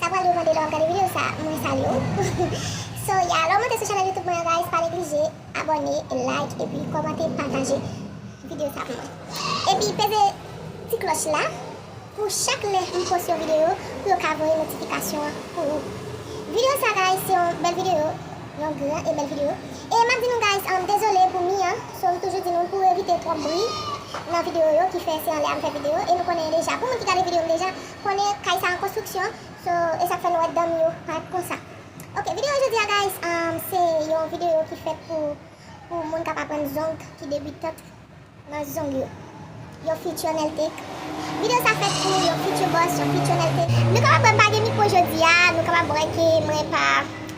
Sa pral devan delo ap gade video sa mwen salye w so yeah lè w monte sou chanèl youtube mwen an guys pa neglije abòne like epi kòmante pataje video sa pou mwen epi peze ti klòch la pou chak lè m post yon video pou yo ka voye notifikasyon an pou ou video sa guys se yon bèl video yon gran e bèl video e map di nou guys dezole pou mi an so m toujou di nou pou evite twòp bri nan video yo ki fè se anlè a m fè video e nou konnen deja pou moun ki gade video m deja konnen kay sa an konstriksyon so esak fè nou wè danm yo pa konsa ok video jodia guys se yon video ki fèt pou pou moun kap aprann zong ki debutant nan zong yo yon future neltek video sa fèt pou yon future boss yon future neltek nou kapab wèm pa gen mikro jodia nou kapab wè ke mwen pa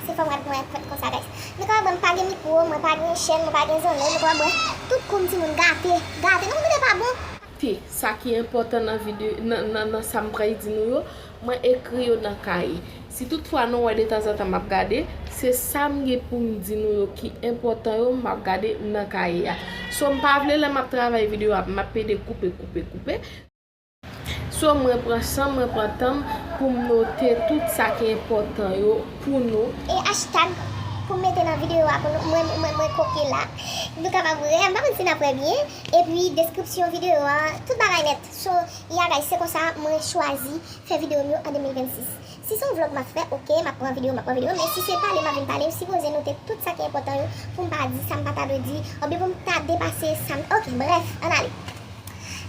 se fòm rad mwen fèt konsa guys nou kapab wèm pa gen mikro mwen pa gen chèn mwen pa gen zone nou kapab wè tout koum timoun gate gate nou konn gade pa bon. T, Sa ki enpòtan nan vide, nan, nan sa m pral di nou yo, mwen ekri yo nan kaye. Si tout fwa nou wè detanzantan m ap gade, se sa m gen pou m di nou yo ki enpòtan yo m ap gade nan kaye a. So m pa vle lè m ap travay videyo a m ap pede koupe, koupe, koupe. So mwen pran san m, mwen pran tan m pou m note tout sa ki enpòtan yo pou nou. E hashtag pou m mete nan videyo a pou nou, mwen, mwen kopye la. Nou kapab ree, m pa konn si n ap wè byen. Epi deskripsyon videyo a tout bagay nèt So ya guys se konsa mwen chwazi fè videyo m yo an 2026 Si se yon vlog map fè ok map pran videyo map pran videyo men si se pale map vin pale m sipoze note tout sa ki enpòtan yo poum pa di sam pata dwe di oubyen poum ta depase sam ok brèf ann ale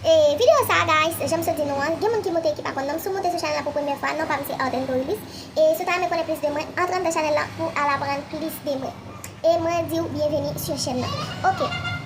E videyo sa guys janm sot di nou an gen moun ki moute e ki pa konn non m si w moute sou chanèl la pou premyè fwa non pam se Artento Ulysse e si w ta renmen konnen plis de mwen antre anndan chanèl la pou al aprann plis de mwen e mwen diw byenveni sur chèn nan ok.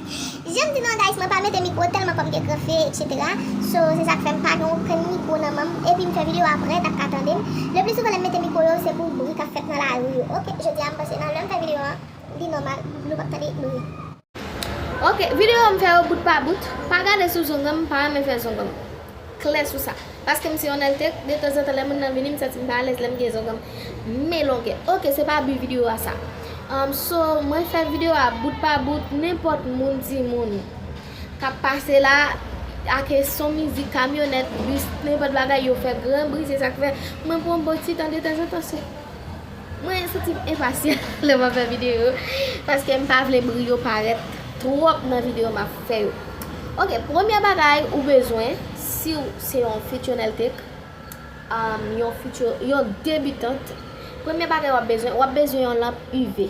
Jem di nan guys mwen pa mete mikro telman kòm gen gran fye etc so se sak fèm pa gen okenn mikro nan menm epim fè video aprè tap ka tandem le pli souvan lèm mete mikro yo se pou bri kap fèt nan lari yo ok jodia m panse nan lèm fè video an li nòmal nou pap tande bri. Ok video yo m fè yo bout pa bout pa gade sou zonganm m pa renmen fè zonganm klè sou sa. Paske m se yon altec, detanzantan lè moun nan vini m santi m pa alèz lè m gen zonganm men longè. Ok se pa but video a sa. Umm so mwen fè video a bout pa bout nenpòt moun ti moun kap pase la ake son mizik kamyonèt, bus nenpòt bagay yo fè gran bri se sak fè mwen pran bon ti tan detanzantan sou. Mwen santi m enpasyan lè map fè video yo paske m pa vle bri yo parèt twòp nan video map fè yo ok premye bagay ou bezwen siw se yon fityonèltek yon fityo yon debitant premye bagay wap bezwen wap bezwen yon lanp UV.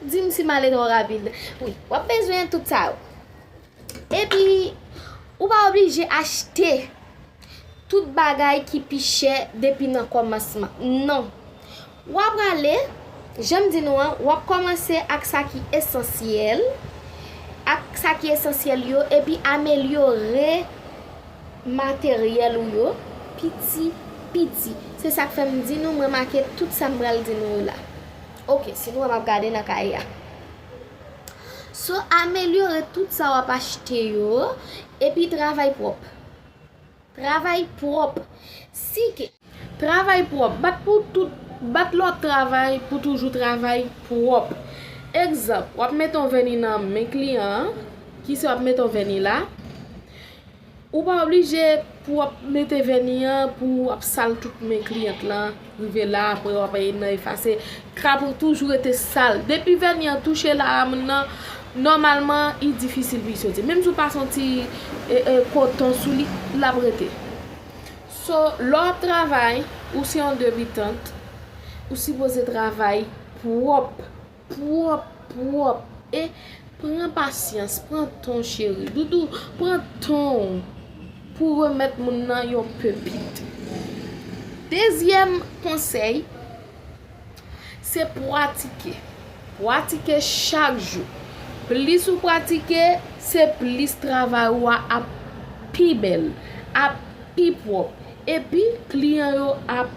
Di m si m ale twò rapid. Wi, w ap bezwen tout sa yo. Epi, ou pa oblije achte tout bagay ki pi chè depi nan kòmansman. Non. W aprale, jan m di nou an, w ap kòmanse ak sa ki esansyèl, ak sa ki esansyèl yo, epi amelyore materyèl ou yo piti piti. Se sa k fè m di nou m remake tout sa m pral di nou yo la. Ok si nou wè map gade nan kay la. So amelyore tout sa wap achte yo epi travay pwòp. Travay pwòp. Si ke. Travay pwòp. Bat pou tout bat lòt travay pou toujou travay pwòp. Egzanp, wap mete yon vèni nan men kliyan an, kise wap mete yon vèni la. Ou pa oblije pou wap mete vèni an pou wap sal tout men kliyant lan rive la aprè wap al nan efase krab ou toujou rete sal depi vèni an touche lam nan nòmalman li difisil pou li soti menm si ou pa fon ti koton sou li lap rete so lè wap travay ou se yon debitant ou sipoze travay pwòp. pwòp pwòp e pran pasyans pran ton cheri doudou pran tonw pou remèt moun nan yon pepit dezyèm konsèy se pwatike pwatike chak jou plis ou pwatike se plis travay ou a ap pi bèl ap pi pwòp epi kliyan yo ap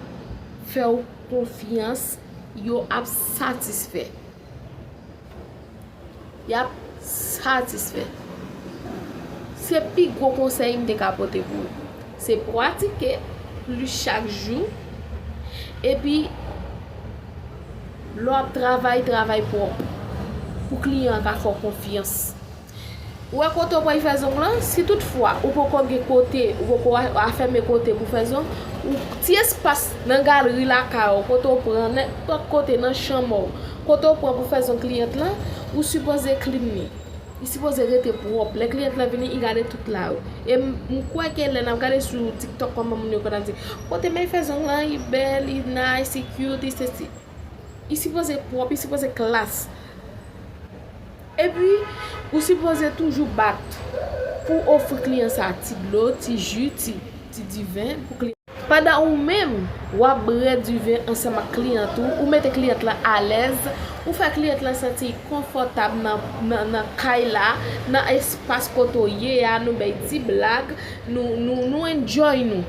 fèw konfyans. Yo ap satisfè. Y ap satisfè. Se pi gwo konsèy m te ka pote pou ou. Se pratike plis chak jou. Epi, lè w ap travay, travay pwòp. Pou kliyan an ka fè w konfyans. Ou wè kote ou pral fè zong lan, si tout fwa ou poko gen kote, ou poko afème kote pou fè zong, ou ti espas nan galri lakay ou kote ou pran, nenpòt kote nan chanm ou, kote ou pran pou fè zong kliyant lan, ou sipoze klin li. Li sipoze rete pwòp. Lè kliyant lan vini, li gade tout la. E m kwè ke lè nap gade sou tiktok kòman moun yo konn ap di, kote may fè zong lan, li bèl, li nice, li cute, li sesi. Li sipoze pwòp, li sipoze klass. Epi, ou sipoze toujou bat pou w ofri kliyan sa a ti dlo, ti ji, ti diven pou kliyan. Pandan ou menm, w ap bre diven ansanm ak kliyant ou, ou mete kliyant lan alèz, ou fè kliyant lan santi l konfòtab nan kay la, nan espas kote w ye a, nou bay ti blag, nou enjoy nou.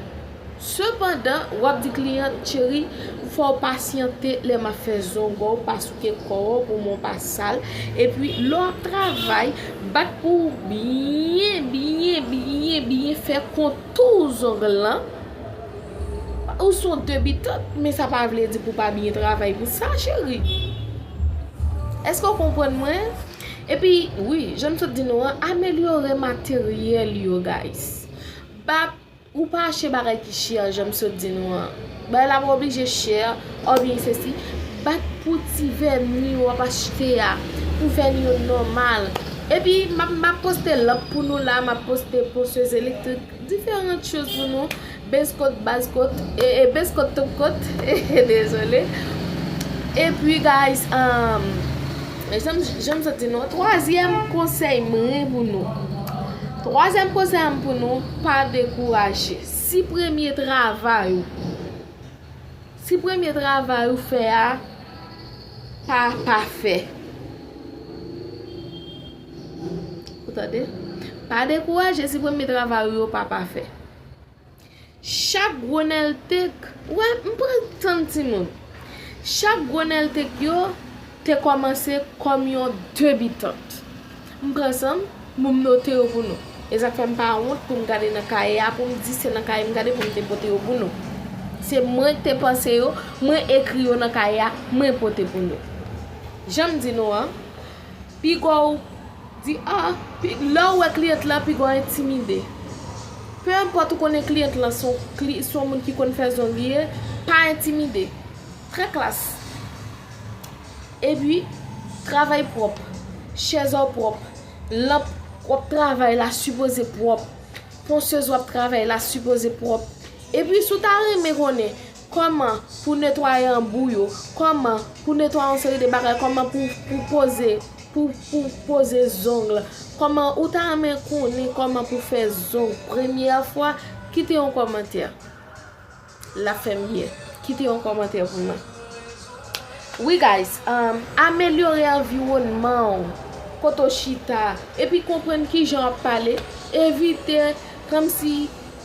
Sepandan wap di kliyan cheri fòw pasyante lè map fè zongow pa souke kòw pou mwen w pa sal epi lè wap travay bat pou w byen byen byen byen fè kontou zong lan ou son debitant men sa pa vle di pou w pa byen travay pou sa cheri eske w konprann mwen epi wi janm sot di nou an amelyore materyèl yo guys ba Ou pa achte bagay ki chè janm sot di nou an. Bagay la pa oblije chè oubyen sesi. Bat pou ti vèni ou ap achte a. Pou vèni yo nòmal. Epi map map poste lanp pou nou la, map poste posez elektrik, diferant choz pou nou. Bez kot, baz kot, ee bez kot tout kot. Hehe dezole. Epi guys, emm janm sot di nou an, twazyèm konsèy mren pou nou. Twazyèm konsèy am pou nou, pa dekouraje. Si premye travay ou, si premye travay ou fè a pa pafè, ou tande? Pa dekouraje si premye travay ou yo pa pafè. Chak gronèltek, wè, m pral tann timoun. Chak gronèltek yo te kòmanse kòm yon debitant. M pran san m, pou m note yo pou nou. E sa k fè m pa wont pou m gade nan kaye a, pou m di se nan kaye m gade pou m te pote yo pou nou. Se mwen k te panse yo, mwen ekri yo nan kaye a, mwen pote pou nou. Jan m di nou an, pi gwo. Di a, lè ou wè kliyant la pi gon entimide. Pe enpòt ou konnen kliyant lan se yon moun ki konn fè zong ye, pa entimide. Trè klas. Epi, travay pwòp. Chèz ou pwòp. Lanp ou ap travay la sipoze pwòp. Ponsez ou ap travay la sipoze pwòp. Epi, si ou ta renmen konnen. Kòman pou netwaye anbou yo, kòman pou netwaye yon seri de bagay, kòman pou pou poze, pou pou poze zong, kòman ou ta renmen konnen kòman pou fè zong premyè fwa, kite yon kòmantè. Lap fè miyè. Kite yon kòmantè pou mwen. Wi guys, umm amelyore anviwònman ou, kote ou chita, epi konprann kijan wap pale, evite kòmsi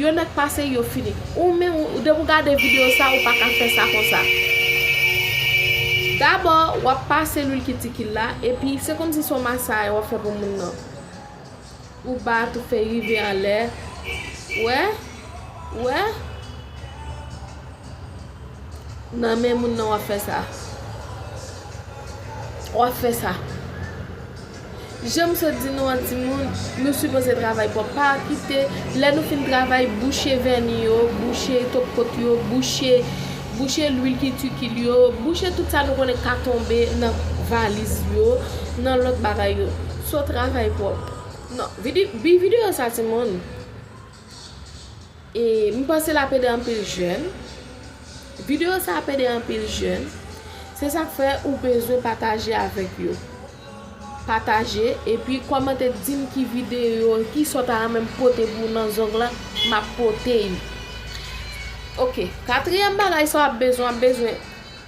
Yon nèg pase yo fini. Ou menm ou depi ou gade video sa ou paka fè sa konsa. Dabò wap pase lwil kitikil la epi se komsi son masay wap fè pou moun nan. Ou bat ou fè rive anlè. Wè? Wè? Nan men moun nan wap fè sa. Wap fè sa. Jan m sot di nou an timoun, nou sipoze travay pwòp, pa kite lè nou fin travay bouche vèni yo, bouche top kot yo, bouche bouche lwil ki tikil yo, bouche tout sa nou konnen ki ka tonbe nan valiz yo, nan lòt bagay yo. So travay pwòp. Non, vide bi videyo sa timoun. E m panse lap ede anpil jèn. Video sa ap ede anpil jèn. Se sak fè ou bezwen pataje avèk yo. Pataje epi kòmante dim ki video, ki sa w ta renmen m pote pou ou nan zong lan, map pote yo. Ok, katriyèm bagay sa w ap bezwen, w ap bezwen.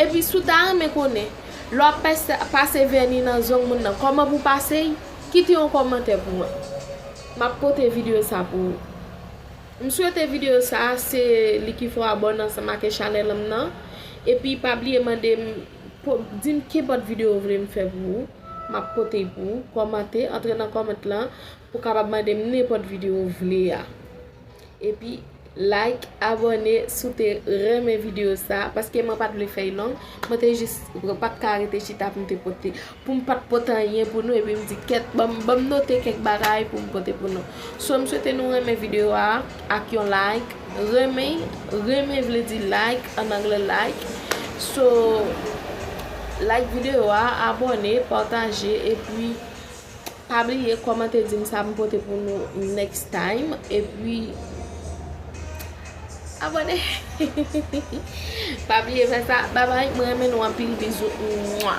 Epi si w ta renmen konnen, lè w ap pase vèni nan zong moun nan kòman pou w pase l, kite yon kòmantè pou mwen. M ap pote videyo sa pou ou. M swete videyo sa a se li ki fè w abòne ansanm ake chanèl m nan. Epi pa bliye mande m, di m kenpòt videyo ou vle m fè pou ou, m ap pote l pou ou. Kòmante, antre nan kòmant lan pou w kapab mande m nenpòt videyo ou vle a. Epi like abone si w te renmen video sa paske mwen pat vle fèy long mwen te jis mwen pat ka rete chita pou m te pote pou m pat pote anyen pou nou epi m di kèt ban m note kèk bagay pou m pote pou nou so m swete nou renmen video a ak yon like renmen renmen vle di like an anglè like so like video a abone pataje epi Pa bliye kòmante dim sa m pote pou nou next time epi Abòne Pa bliye fè sa bye bye mwen renmen nou anpil bizou mua.